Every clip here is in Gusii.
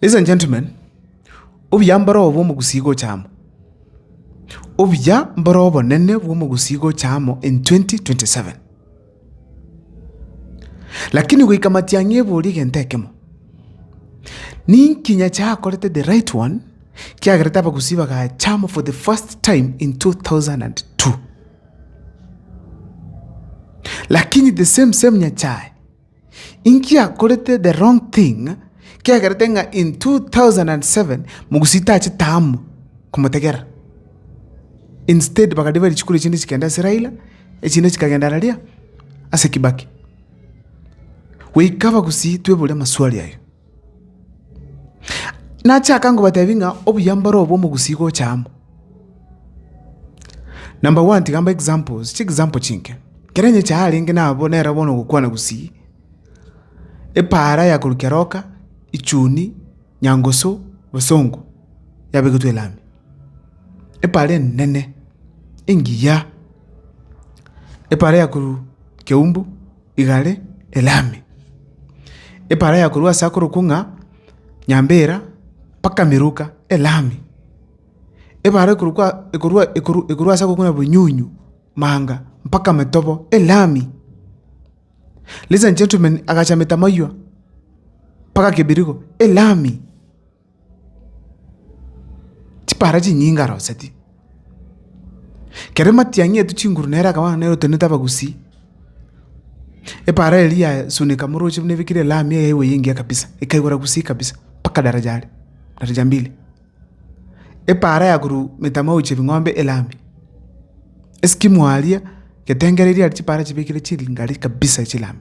Ladies and gentlemen, obuya mboro obo bw'omogusi gocha amo. Obuya mboro obonene bw'omogusi gocha amo in 2027. Lakini goika matiang'i ebori egento ekemo, Ninki Nyasae akorete the right one kiagerete abagusii bagachama for the first time in 2002? Lakini the same same Nyasae inki akorete the wrong thing kiagerete ng'a in 2007 mogusii tache taama komotegerera? Instead bakariba richiku riachinde chikende ase Raila, Echinde chikagenda araria ase Kibaki. Goika bagusii twebore amaswali aye. Nachaka ngobatebi ng'a obuya mboro obwo omogusii gocha amo. Number one tiga mbae examples, chi example chinke. Kere onye echaha arenge nabo nere bono ogokwana gusii, epaara ya korwa Keroka, Ichuni, Nyangusu, Bosongo yabegetwe elami. Epaara enene engiya, epaara ya korwa Keumbu igare elami, epaara ya korwa ase akorokwa ng'a Nyambera mpaka Miruka elami, epaara ekorokwa ekorwa ekorwa ekorwa ase agokwana Bonyunyu manga mpaka Metobo elami. Ladies and gentlemen agacha Metamaywa mpaka Kibirigo elami. Chipara chinyinge aroseti, kere matiang'i etwe chinguru nere akabana nere otenenete abagusii, epara eria yasuneka moroche buna ebekire lami eyaigwa eye engiya kabisa, ekaigora gusii kabisa mpaka daraja are, daraja mbili. Epara ya korwa emetama gochia ebing'ombe elami, eskimu aria, getengere eria chipara chibekire chingari kabisa chilami.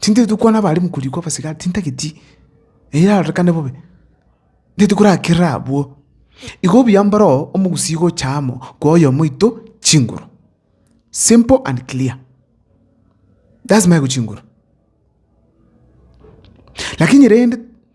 Tintageti gokwana abaremu korikwa abasigari, tintageti, eyio erarorekane bobe, tintageti korakerera abwo. Igo obuya mboroo omogusii gocha amo kwa oyomo oito chinguru. Simple and clear. Lazima aigwe chinguru. Lakini rende.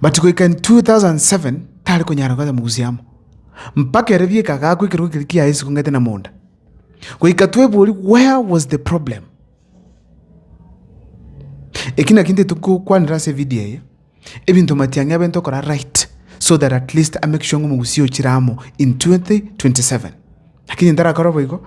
But goika in 2007 tare konyara koeta mogusi amo, mpaka ere bieka agakwa ekerogo keria kiaye isiko ng'ete na monda. Goika twebori where was the problem? Eki naki nte tokokwanera ase evideo eye, ebinto matiang'i abente okora right so that at least amake sure ng'a omogusi ochire amo in 2027. Lakini ntarakora boigo.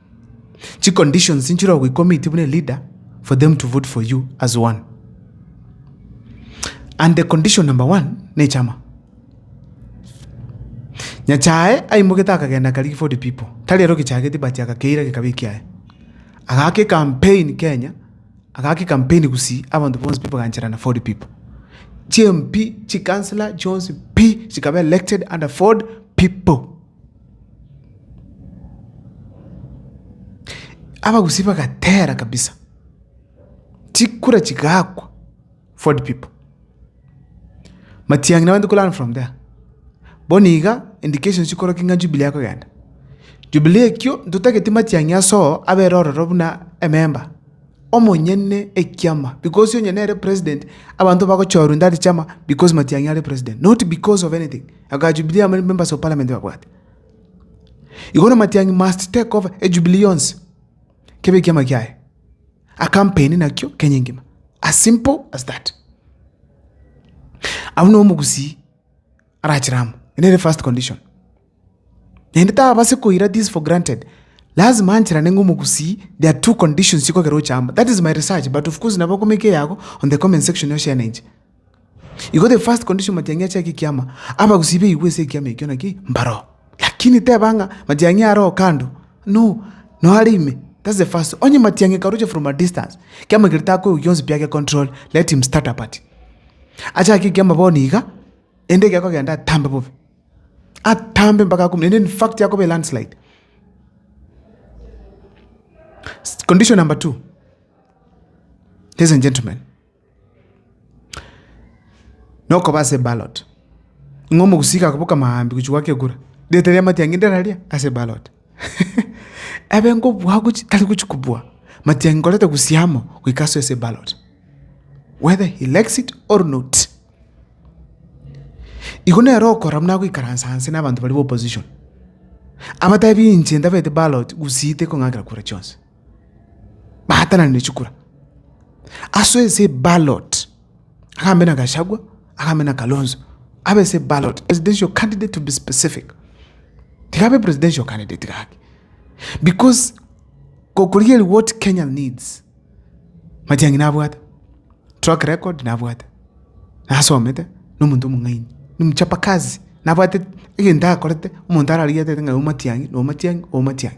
Chiconditions inchire ogoicommitte buna eleader for them to vote for you as one. And the condition number one nechama. Nyachae aimogete akagenda akarigia for the people. Tari ero gechageti but agakeira gekaba ekiaye. Agake campaign Kenya, agake campaign Gusii, abanto bonsi pi bagancherana for the people. Chi MP, chi councillor chionsi pi chikaba elected under for the people. Abagusii bagatera kabisa, chikura chigakwa for the people. Matiang'i nabande ko learn from there. Bono iga indications chikorokia ng'a Jubilee ekogenda. Jubilee ekio ntotageti Matiang'i ase oo abere ororo buna ememba omonyene ekiama because onye nere president abanto bagochorwa in that chama because Matiang'i are president not because of anything. Agachia Jubilee amo members of parliament babwate. Igo na Matiang'i must take over ejubilee yonsi kebe ekiama kiaye. A campaign nakio Kenya engima. As simple as that. Abwo no omogusii arachire amo. Ere nere first condition. Naende tabase koira this for granted. Lazima ancherane ng'a omogusii there are two conditions chikogera oche amo. That is my research but of course nabo okomeka eyago on the comment section yoshenenche. Igo the first condition matiang'i ache ake ekiama, abagusii baigwe ase ekiama ekio naki mbaroo. Lakini teba ng'a matiang'i aroo kando, no, noo are ime, that's the first. Onye matiang'i akaroche from a distance, ekiama keria takoigwa gionsi pi age control, let him start a party. Ache ake ekiama bono iga, ende egekogenda atambe bobe, atambe mpaka akumie, ende in fact akobe landslide. Condition number two, ladies and gentlemen, Nokoba ase eballot, ng'a omogusii gakoboka maambia gochia goaka ekura, rieta ria matiang'i nderaria ase eballot ebe ngobua gochia tari gochia kobua, matiang'i nkoreta gusii amo goika asoe ase eballot whether he likes it or not. Igo nero okora buna agoikaransa nse na abanto baria ba opposition, abatebi inche ntabete ballot gusii tekong'akera kura chionsi. baatananire chikura ase ense eballot, agambe na Gachagua, agambe na Kalonzo, abe ense eballot, presidential candidate to be specific, tiga abe presidential candidate gaki, because kokorigereria what Kenya needs, Matiang'i nabwate, track record nabwate, nasomete, na omonto omong'aini, na omochapa kazi, nabwate egento akorete, omonto ararigetere ng'a oyo Matiang'i, na oyo Matiang'i, oyo Matiang'i.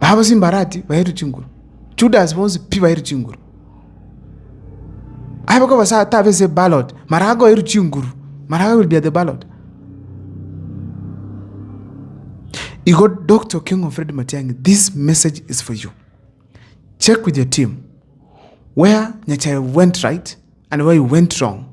Babo chimbarati bairwe chinguru, Judas bonsi pi bairwe chinguru. Abe koba sa tabe ase eballot, mara akoirwe chinguru, mara I will be at the ballot. Igo Doctor Okengo Fred Matiang'i, this message is for you. Check with your team where Nyachae went right and where you went wrong.